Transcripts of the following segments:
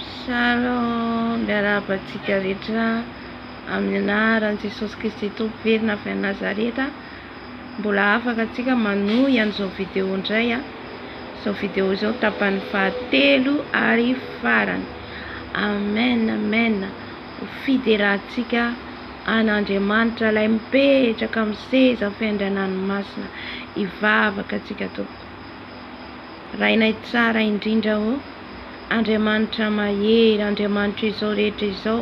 Shalom, miarahaba antsika rehetra amin'ny anaran'i Jesosy Kristy Tompo velona avy any Nazareta. Mbola afaka antsika manohy an'izao video indray a. Izao video izao tapany fahatelo ary farany. Amen, amen. Ho fiderahantsika an'Andriamanitra ilay mipetraka amin'ny seza fiandrianan'ny masina. Hivavaka antsika tompoko. Rainay tsara indrindra ô! Andriamanitra mahery, Andriamanitra izao rehetra izao,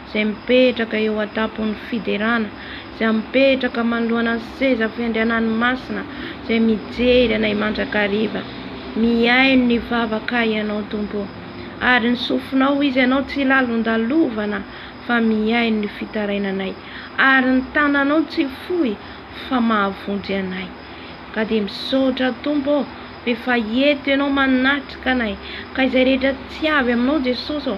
Izay mipetraka eo an-tampon'ny fiderana, Izay mipetraka manoloana ny seza fiandrianany masina, Izay mijery anay mandrakariva. Mihaino ny vavaka Ianao, Tompo ô! Ary ny sofinao, izy Ianao tsy lalondalovana, fa mihaino ny fitarainanay, Ary ny tananao tsy fohy, fa mahavonjy anay. Ka dia misaotra Tompo ô, f'efa eto Ianao manatrika anay, ka izay rehetra tsy avy Aminao Jesosy ô,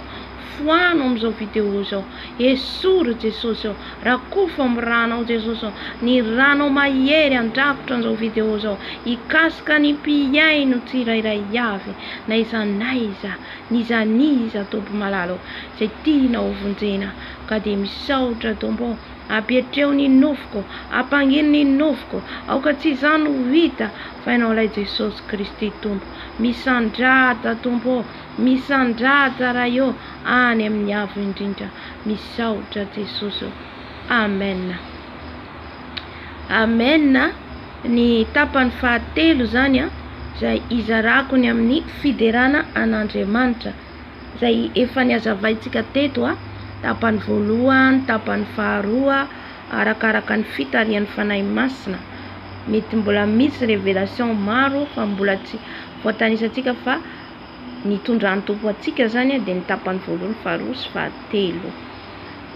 foano amin'izao vidéo izao, esory Jesosy ô, rakofo amin'ny Ranao Jesosy ô, ny Ranao mahery handrakotra an'izao vidéo izao, hikasika ny mpihaino tsirairay avy, n'aiza n'aiza, n'iza n'iza Tompo malala ô, izay tianao hovonjena, ka dia misaotra Tompo ô, Ampietreo ny nofoko, ampangino ny nofoko, aoka tsy izaho no ho hita, fa Ianao ilay Jesosy Kristy Tompo. Misandrata, Tompo ô! Misandrata, Ray ô! Any amin'ny Avo Indrindra. Misaotra, Jesosy ô! Amen. Amen. Ny tapany fahatelo izany, izay izarako ny amin'ny fiderana an'Andriamanitra. izay efa nihazavaintsika teto, tapany voalohany, tapany faharoa, arakaraka ny fitarihan'ny Fanahy Masina. Mety mbola misy révélation maro fa mbola tsy voatanisantsika fa ny tondran'ny Tompo antsika izany dia ny tapany voalohany, faharoa sy fahatelo.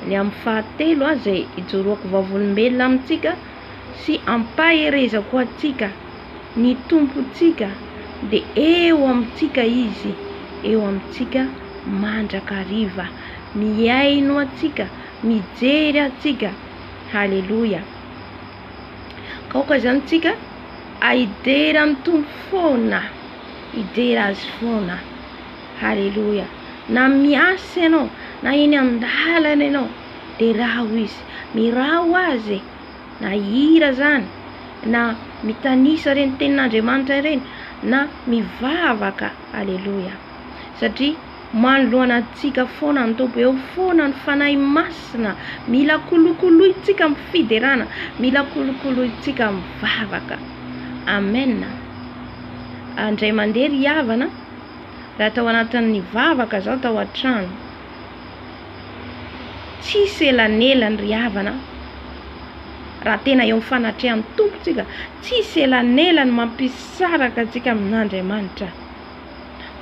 Ny amin'ny fahatelo izay ijoroako vavolombelona amintsika sy ampaherezako antsika, ny Tompontsika dia eo amintsika Izy, eo amintsika mandrakariva, mihaino antsika, mijery antsika. Haleloia. Aoka izany tsika hidera ny Tompo foana, hidera Azy foana. Haleloia. Na miasa ianao, na eny an-dalana ianao, de raho izy miraho azy e! na hira zany na mitanisa ireny tenin'Andriamanitra ireny na mivavaka aleloia satria manoloana antsika foana ny Tompo eo foana ny Fanahy Masina mila kolokolointsika amin'ny fiderana mila kolokolointsika amin'ny vavaka amen andray mandeha ry havana raha tao anatin'ny vavaka zao tao an-trano Tsisy elanelany ry havana an! Raha tena eo amin'ny fanatrehan'ny Tompo isika, tsisy elanelany mampisaraka antsika amin'Andriamanitra.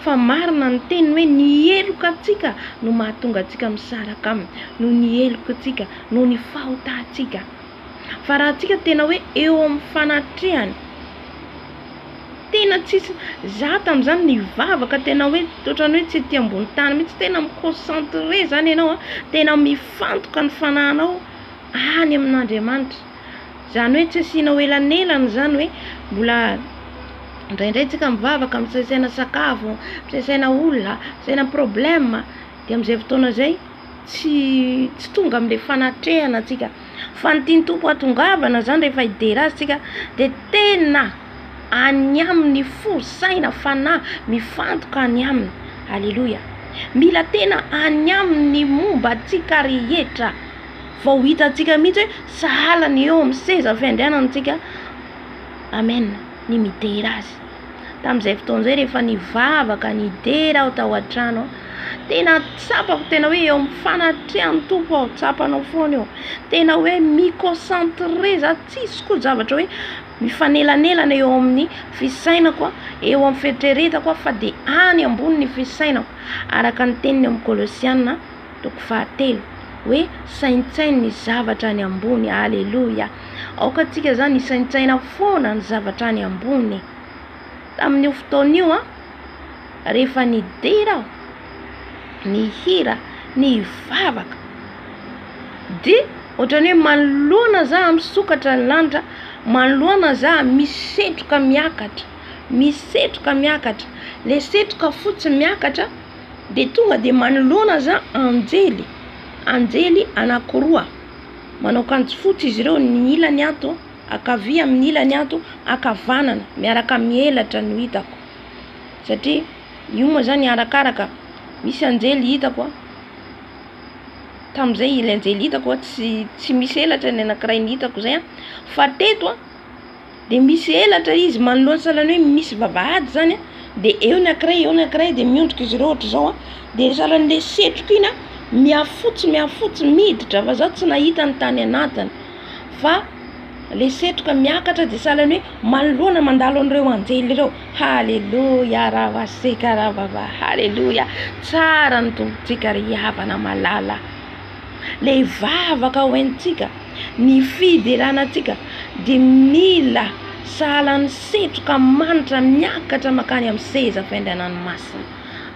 Fa marina ny teniny hoe ny heloka antsika no mahatonga antsika misaraka aminy, noho ny heloka antsika, noho ny fahotantsika. Fa raha antsika tena hoe eo amin'ny fanatrehany, tena tsisy, za tamin'izany nivavaka tena hoe ohatran'ny hoe tsy ety ambony tany mihitsy, tena mi concentrer zany ianao an, tena mifantoka ny fanahinao any amin'Andriamanitra, izany hoe tsy asianao elanelana izany hoe mbola indraindray tsika mivavaka misaisaina sakafo, misaisaina olona, misaisaina problème. Dia amin'izay fotoana izay, tsy tsy tonga amin'ilay fanatrehana tsika. Fa ny tian'ny Tompo hatongavana izany rehefa hidera Azy tsika, dia tena any Aminy fo, saina, fanahy, mifantoka any Aminy. Aleloia. Mila tena any Aminy ny momba antsika rehetra, vao ho hitantsika mihitsy hoe sahala ny eo amin'ny seza fiandrianana antsika, Amen, ny midera Azy. tamin'izay fotoana izay rehefa nivavaka nidera aho tao an-trano tena tsapako tena hoe eo amin'ny fanatrehan'ny tompo aho tsapanao foana eo tena hoe miconcentre za tsisy koa zavatra hoe mifanelanelana eo amin'ny fisainako eo amin'ny fieritreretako fa dia any ambony ny fisainako araka ny teniny amin'ny kolosiana Toko fahatelo, hoe saintsaino ny zavatra any ambony. Aleloia! Aoka antsika izany hisaintsaina foana ny zavatra any ambony. Tamin'io fotoana io, rehefa nidera aho, nihira, nivavaka, dia ohatran'ny hoe manoloana za misokatra ny lanitra, manoloana za misetroka miakatra, misetroka miakatra, le setroka fotsy miakatra. Dia tonga dia manoloana azy anjely, anjely anankiroa, manao akanjo fotsy izy ireo, ny ilany ato ankavia amin'ny ilany ato ankavanana, miaraka mielatra no hitako, satria io moa izany arakaraka, misy anjely hitako, tamin'izay ilay anjely hitako tsy tsy misy elatra ny anankiray ny hitako izay an, fa teto an. Dia misy elatra izy manoloana sahalan'ny hoe misy vavahady izany a, dia eo ny ankiray eo ny ankiray dia miondrika izy ireo ohatra izao a, dia sahalan'ilay setroka iny a, mihafotsy mihafotsy miditra fa za tsy nahita ny tany anatiny fa ilay setroka miakatra dia sahalan'ny hoe manoloana mandalo an'ireo anjely ireo, haleloia raha ho antsika raha vavahady, haleloia, tsara ny Tompontsika ry havana malala. ilay vavaka ho entintsika, ny fiderana antsika dia mila sahala ny setroka manitra miakatra makany amin'ny seza fiandrianan'ny masina.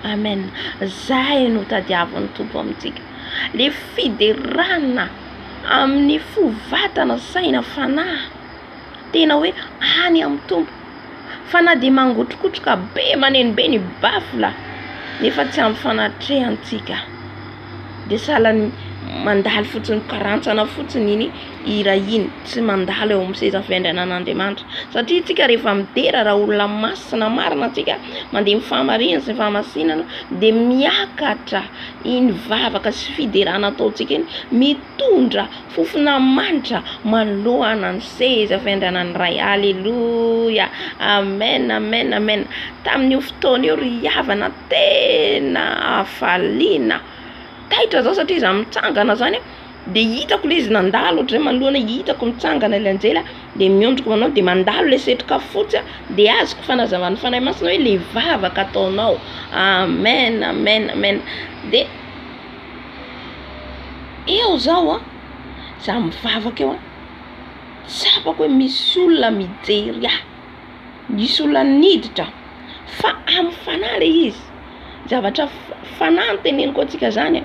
Amen. Izay no tadiavin'ny Tompo amintsika. Ilay fiderana amin'ny fo, vatana, saina, fanahy. Tena hoe any amin'ny Tompo. Fa na dia mangotrokotroka be maneno be ny baffle nefa tsy ampy fanatrehantsika. Dia sahala ny mandalo fotsiny karantsana fotsiny iny hira iny. Tsy mandalo eo amin'ny seza fiandrianan'Andriamanitra. Satria isika rehefa midera raha olona masina marina isika, mandeha amin'ny fahamarinana sy ny fahamasinana, dia miakatra iny vavaka sy fiderana ataontsika iny mitondra. Fofona manitra manoloana ny seza fiandrianan'ny Ray. Aleloia! Amen, amen, amen! Tamin'io fotoana io ry havana tena hafaliana, taitra zao satria za mitsangana zany de hitako le izy nandalo ohatry zay manoloana, hitako mitsangana le anjely a, de miondriko manao de mandalo le setroka fotsy a, de azoko fanazavan'ny Fanahy Masina hoe le vavaka ataonao, amen, amen, amen, de. Eo zaho a, za mivavaka eo a, tsapako hoe misy olona mijery ahy, misy olona niditra aho, fa amin'ny fanahy le izy, zavatra fanahy no teneniko antsika zany a,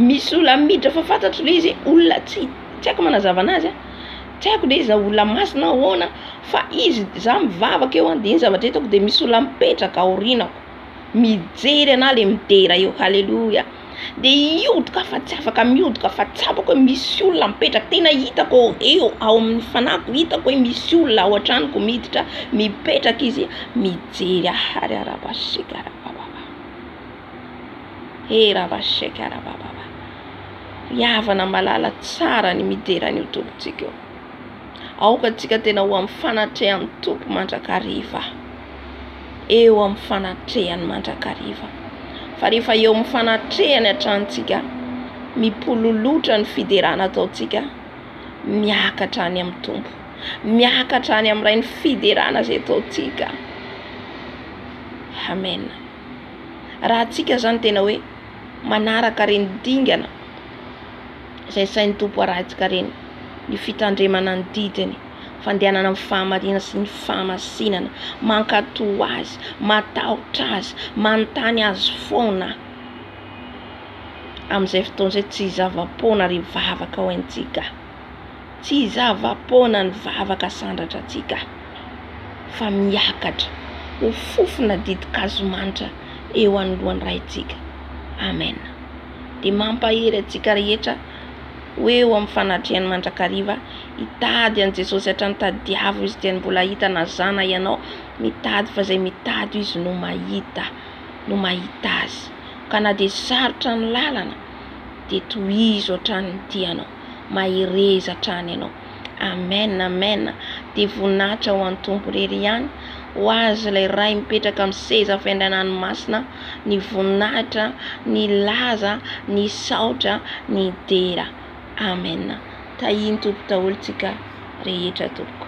misy olona miditra fa fantatro le izy hoe olona tsy tsy aiko manazava anazy a, tsy aiko le izy na olona maty na ahoana fa izy, za mivavaka eo a de iny zavatra hitako de misy olona mipetraka aorianako. mijery anah le midera eo haleloia de hiodika fa tsy afaka miodika fa tsapako hoe misy olona mipetraka tena hitako eo ao amin'ny fanahiko hitako hoe misy olona ao an-tranoko miditra mipetraka izy mijery ahary arabasika arabababa e rabasika arabababa ry havana malala tsara ny midera an'io tompontsika io aoka antsika tena ho amin'ny fanatrehan'ny tompo mandrakariva eo amin'ny fanatrehany mandrakariva. Fa rehefa eo amin'ny fanatrehany hatranintsika, mipololotra ny fiderana ataontsika, miakatra any amin'ny Tompo, miakatra any amin'ny Ray ny fiderana izay ataontsika. Amen. Raha antsika izany tena hoe manaraka ireny dingana izay sain'ny Tompo arahintsika ireny, ny fitandremana ny didiny. fandehanana amin'ny fahamarinana sy ny fahamasinana, mankatò Azy, matahotra Azy, manontany Azy foana aho. Amin'izay fotoana izay tsy hizava-poana ry vavaka ho antsika, tsy hizava-poana ny vavaka sandratra antsika, fa miakatra ho fofona ditin-kazo manitra eo anoloan'ny Raintsika. Amena. Dia mampahery antsika rehetra. ho eo amin'ny fanatrehany mandrakariva, hitady an'i Jesosy hatrany tadiavo izy dia ny mbola hahita na za na ianao mitady fa izay mitady io izy no mahita no mahita azy ka na dia sarotra ny lalana dia tohizo hatrany ny tianao mahereza hatrany ianao Amen Amen dia voninahitra ho an'ny Tompo irery ihany ho azy ilay Ray mipetraka amin'ny seza fiandrianany masina ny voninahitra ny laza ny saotra ny dera Amen tahian'ny Tompo daholo tsika rehetra tompoko.